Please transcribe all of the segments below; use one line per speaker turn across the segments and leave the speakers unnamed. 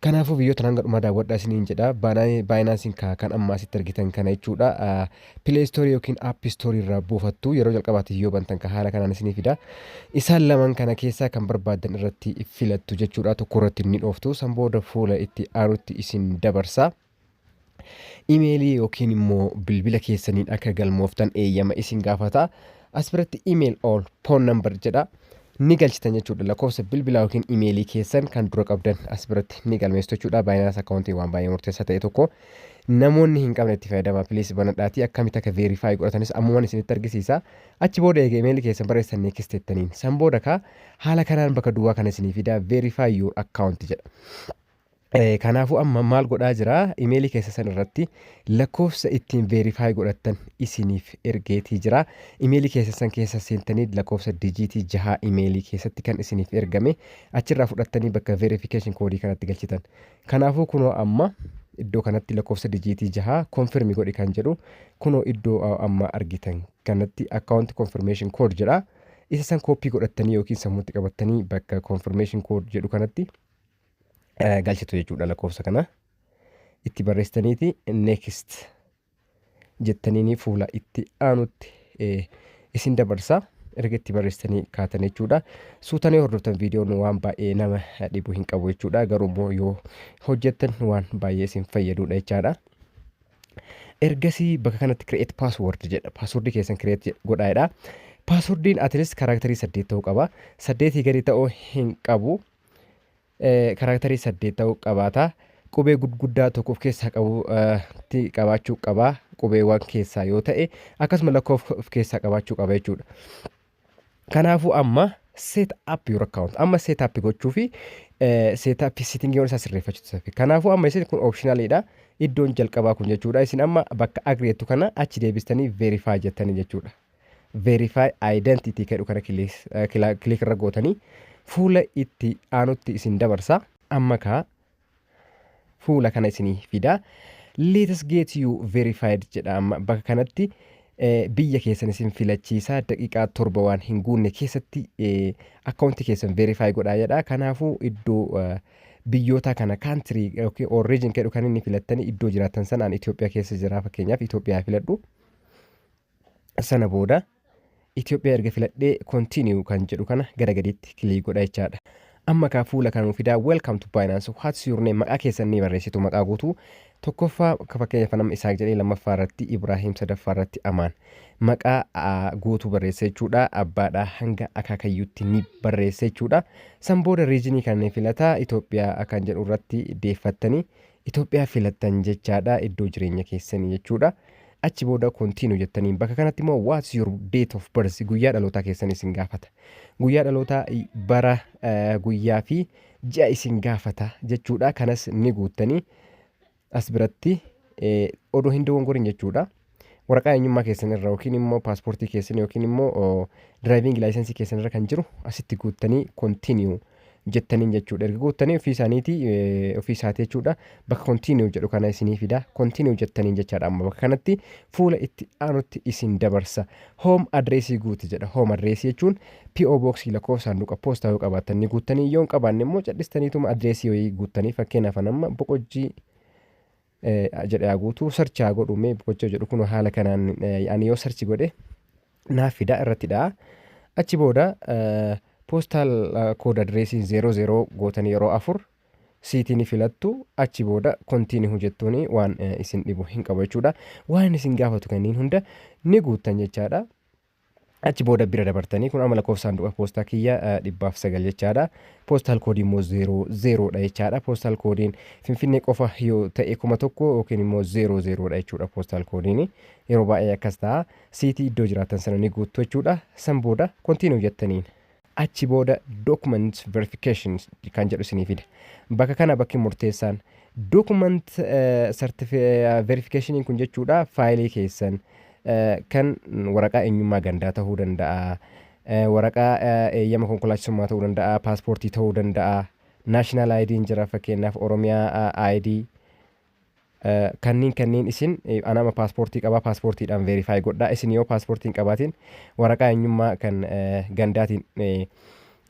Kanaafuu biyyoottan hanga dhumaa daawwadhaa isiniin jedha. Binance'n kaa kan amma asitti argitan kana jechuudha. Play Store yookiin App Store irraa buufattu yeroo jalqabaatiif yoo bantan kan haala kanaan isinii fida. Isaan lamaan kana keessaa kan barbaaddan irratti filattu jechuudha. Tokko irratti ni dhooftu. San booda fuula itti aanutti isin dabarsa. Imeelii yookiin immoo bilbila keessaniin akka galmooftan eeyyama isin gaafata. As biratti email or phone number jedha. Ni galchitan jechuudha. Lakkoofsa bilbilaa yookiin imeelii keessan kan dura qabdan as biratti ni galmeessitu jechuudha. Baayinaas akkaawuntii waan baay'ee murteessaa ta'e tokko namoonni hin qabne itti fayyadama. Piliis banadhaatii akkamitti akka veerifaayi godhatanis ammumaan isinitti argisiisa. Achi booda eega imeelii keessan barreessan neekist jettaniin. San booda kaa haala kanaan bakka duwwaa kana isinii fida veerifaayi yuur akkaawunti jedha. Eh, Kanaafuu amma maal godhaa jira imeelii keessa san irratti lakkoofsa ittiin veerifaayi godhattan isiniif ergeetii jira imeelii keessa san keessa seentanii lakkoofsa dijiitii jahaa imeelii keessatti kan isiniif ergame achirraa fudhattanii bakka veerifiikeeshin koodii kanatti galchitan kanaafuu kunoo amma iddoo kanatti lakkoofsa dijiitii jahaa konfirmi godhi kan jedhu kunoo iddoo a- amma argitan kanatti akkaawunti konfirmeeshin kood jedha isa san kooppii godhattanii yookiin sammuutti qabattanii bakka konfirmeeshin kood jedhu kanatti eh, galchitu jechuudha lakkoofsa kana itti barreessitaniiti next jettaniini fuula itti aanutti eh, isin dabarsa erga itti barreessitanii kaatan jechuudha suutanii hordoftan viidiyoon waan baay'ee nama dhibu hin qabu jechuudha garuu immoo yoo hojjettan waan baay'ee isin fayyaduudha jechaadha. ergasii bakka kanatti create password jedha password keessan create godhaadha passwordiin at least kaaraakterii saddeet ta'uu qaba saddeetii gadi ta'uu hin qabu karaaktarii saddeet ta'uu qabaata. Qubee gurguddaa tokko of keessaa qabutti qabaachuu qaba qubeewwan keessaa yoo ta'e akkasuma lakkoofsa of keessaa qabaachuu qaba jechuudha. Kanaafuu amma set up your account amma set up gochuu fi set up sittingiiwwan isaa sirreeffachuutu fi kanaafuu amma isin kun optionaliidha iddoon jalqabaa kun jechuudha isin amma bakka agree jettu kana achi deebistanii verify jettanii jechuudha. Verify Identity kedhu kana click irra gootanii fuula itti aanutti isin dabarsa. Amma kaa fuula kana isinii fida. Let's get you verified jedha amma bakka kanatti biyya keessan isin filachiisa daqiiqaa torba waan hin guunne keessatti akkaawuntii keessan verify godhaa jedha. Kanaafuu iddoo biyyoota kana country yookiin or region kedhu kan inni filattanii iddoo jiraattan sanaan Itoophiyaa keessa jira fakkeenyaaf Itoophiyaa filadhu. Sana booda Itoophiyaa erga filadhee continue kan jedhu kana gara gadiitti kilii godha jechaadha. Amma kaa fuula kana nuuf fidaa welcome to Binance what's your name maqaa keessan ni barreessitu maqaa guutuu tokkoffaa akka fakkeenyaaf nama Isaaq jedhee lammaffaa irratti Ibraahiim sadaffaa irratti Amaan maqaa aa, guutuu barreessa jechuudha abbaadhaa hanga akaakayyuutti ni barreessa jechuudha san booda riijinii kan filataa Itoophiyaa kan jedhu irratti deeffattanii Itoophiyaa filattan jechaadha iddoo jireenya keessanii jechuudha. Achi booda continue jettaniin bakka kanatti immoo what's your date of birth guyyaa dhalootaa keessan isin gaafata. Guyyaa dhalootaa i- bara eh, guyyaa fi ji'a isin gaafata jechuudha. Kanas ni guuttanii as biratti eh, odoo hin dogongorin jechuudha. waraqaa eenyummaa keessan irra yookiin immoo paaspoortii keessan yookiin immoo diraayiviingi laayisensii keessan irra kan jiru asitti guuttanii kontiniyu jettaniin jechuudha. Erga guuttanii ofii isaaniitii eh, ofii isaati jechuudha. Bakka kontiniyu jedhu kana isinii fida. Kontiniyu jettaniin jechaadha amma bakka kanatti fuula itti aanutti isin dabarsa. Hoom adreesii guuti jedha. Hoom adreesii jechuun PO booksii lakkoofsa saanduqa poostaa yoo qabaatan ni guuttanii yoo hin qabaanne immoo cadhistaniituma adreesii wayii guuttanii fakkeenyaaf an amma boqojjii jedhe haa guutu search haa godhu mee boqochoo jedhu kun haala kanaan ani yoo search godhe naaf fida irratti dha'a achi booda poostal kooda direesiin 00 gootan yeroo afur siitiin filattu achi booda kontiini hojjettuun waan isin dhibu hin qabu jechuudha waan isin gaafatu kanneen hunda ni guuttan jechaadha Achi booda bira dabartanii kun amma lakkoofsa saanduqa poostaa kiyya dhibbaaf sagal jechaadha. Poostal koodii immoo zeeroo zeeroodha jechaadha. Poostal koodiin Finfinnee qofa yoo ta'e kuma tokko yookiin immoo zeeroo zeeroodha jechuudha poostal koodiin. Yeroo baay'ee akkas ta'a. Siitii iddoo jiraattan sana ni guuttu jechuudha. San booda kontiinuu jettaniin. Achi booda Document Verification kan jedhu isinii fida. Bakka kana bakki murteessaan Document Verification kun jechuudha faayilii keessan kan waraqaa eenyummaa gandaa ta'uu danda'a, waraqaa eeyyama konkolaachisummaa ta'uu danda'a, paaspoortii ta'uu danda'a, national ID'n jira fakkeenyaaf Oromiyaa ID Kanniin kanniin isin ana ama paaspoortii qabaa paaspoortiidhaan veerifaayi godhaa isin yoo paaspoortii hin qabaatiin waraqaa eenyummaa kan gandaatiin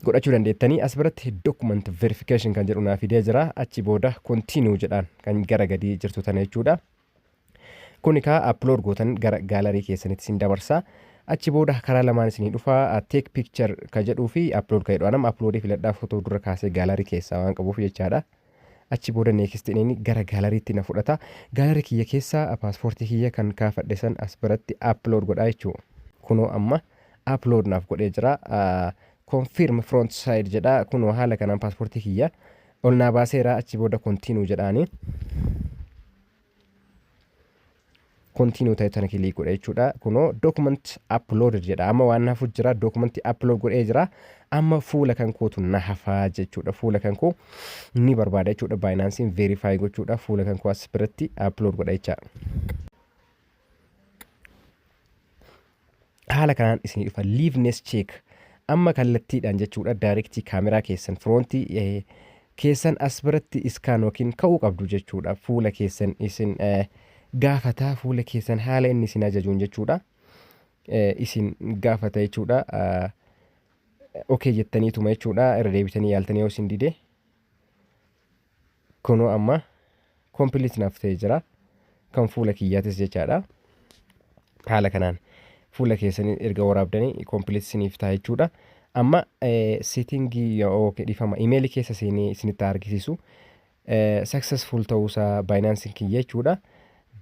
godhachuu dandeettanii as biratti document verification kan jedhu naa fidee jira achi booda continue jedhaan kan gara gadii jirtu tana jechuudha. Kun ekaa upload gootan gara gaalarii keessanitti isin dabarsa. Achi booda karaa lamaan isinii dhufa take picture ka jedhuu fi upload ka jedhu anam upload filadhaa footoo dura kaasee gaalarii keessaa waan qabuuf jechaadha. Achi booda next ineen gara gallery tti na fudhata. Gallery kiyya keessa passport kiyya kan kaafadhe san as biratti upload godha jechuu. Kunoo amma upload naaf godhee jira. Confirm front side jedha. Kunoo haala kanaan passport kiyya ol naa baaseera. Achi booda continue jedhaani. continue ta'e tana kilii godha jechuudha kunoo document uploaded jedha amma waan hafu jira document upload godhee jira amma fuula kan kootu na hafaa jechuudha fuula kan koo ni barbaada jechuudha baayinaansiin verify gochuudha fuula kan koo as biratti upload godha jecha haala kanaan isinii dhufa liveness check amma kallattiidhaan jechuudha daayirektii kaameraa keessan firoontii eh, keessan as biratti iskaan yookiin ka'uu qabdu jechuudha fuula keessan isin eh, gaafataa fuula keessan haala inni isin ajajuun jechuudha eh, isin gaafata jechuudha ah, okee jettaniituma jechuudha irra deebitanii yaaltanii yoo isin dide Kunoo amma complete naaf ta'ee jira. Kan fuula kiyyaatis jechaadha. Haala kanaan fuula keessanii erga waraabdanii complete isiniif ta'a jechuudha. Amma setting yookiin dhifama email keessa seenee isinitti argisiisu successful ta'uusaa Binance kiyya jechuudha.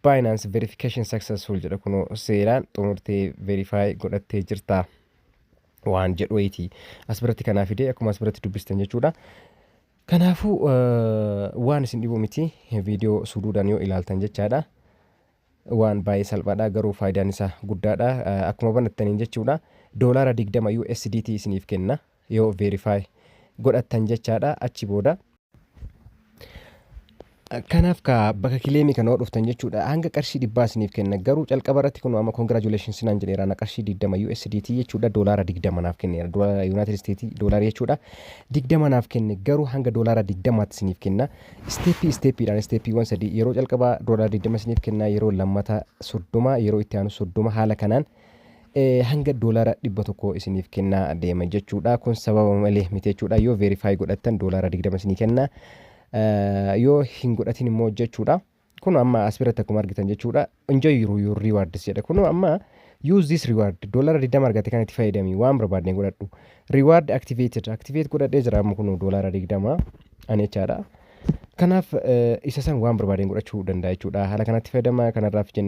Binance verification successful jedha kunoo seeraan xumurtee verify godhattee jirta waan jedhu wayiiti. As biratti kanaa fidee akkuma as biratti dubbistan jechuudha. Kanaafuu waan isin dhibu miti viidiyoo suduudaan yoo ilaaltan jechaadha. Waan baay'ee salphaadha garuu faayidaan isaa guddaadha. Akkuma banattaniin jechuudha doolaara 20 USDT isiniif kenna yoo verify godhattan jechaadha achi booda. Kanaf kaa baka kileemi kana yoo dhuftan jechuudha hanga qarshii dhibbaa isiniif kenna garuu calqaba irratti kunoo amma congratulations naan jedheera na qarshii 20 USDT jechuudha doolaara 20 naaf kenneera doolaara United States doolaara jechuudha 20 naaf kenne garuu hanga doolaara 20 tti isiniif kenna isteeppii isteeppiidhaan isteeppiiwwan sadii yeroo calqaba doolaara 20 isiniif kenna yeroo lammata 30 yeroo itti aanu 30 haala kanaan hanga doolaara dhibba tokko isiniif kennaa deema jechuudha kun sababa malee miti jechuudha yoo verify godhattan doolaara 20 isinii kenna Yoo hin godhatin immoo jechuudha. Kun amma as biratti akkuma argitan jechuudha. Enjoy your, your rewards jedha. Kun amma use this reward doolara 20 argate kan itti fayyadami waan barbaadne godhadhu. Reward activated activate godhadhee jira amma kun doolara 20 ani jechaadha. Kanaaf isa san waan barbaadeen godhachuu danda'a jechuudha. Haala kanatti fayyadama kanarraaf jennee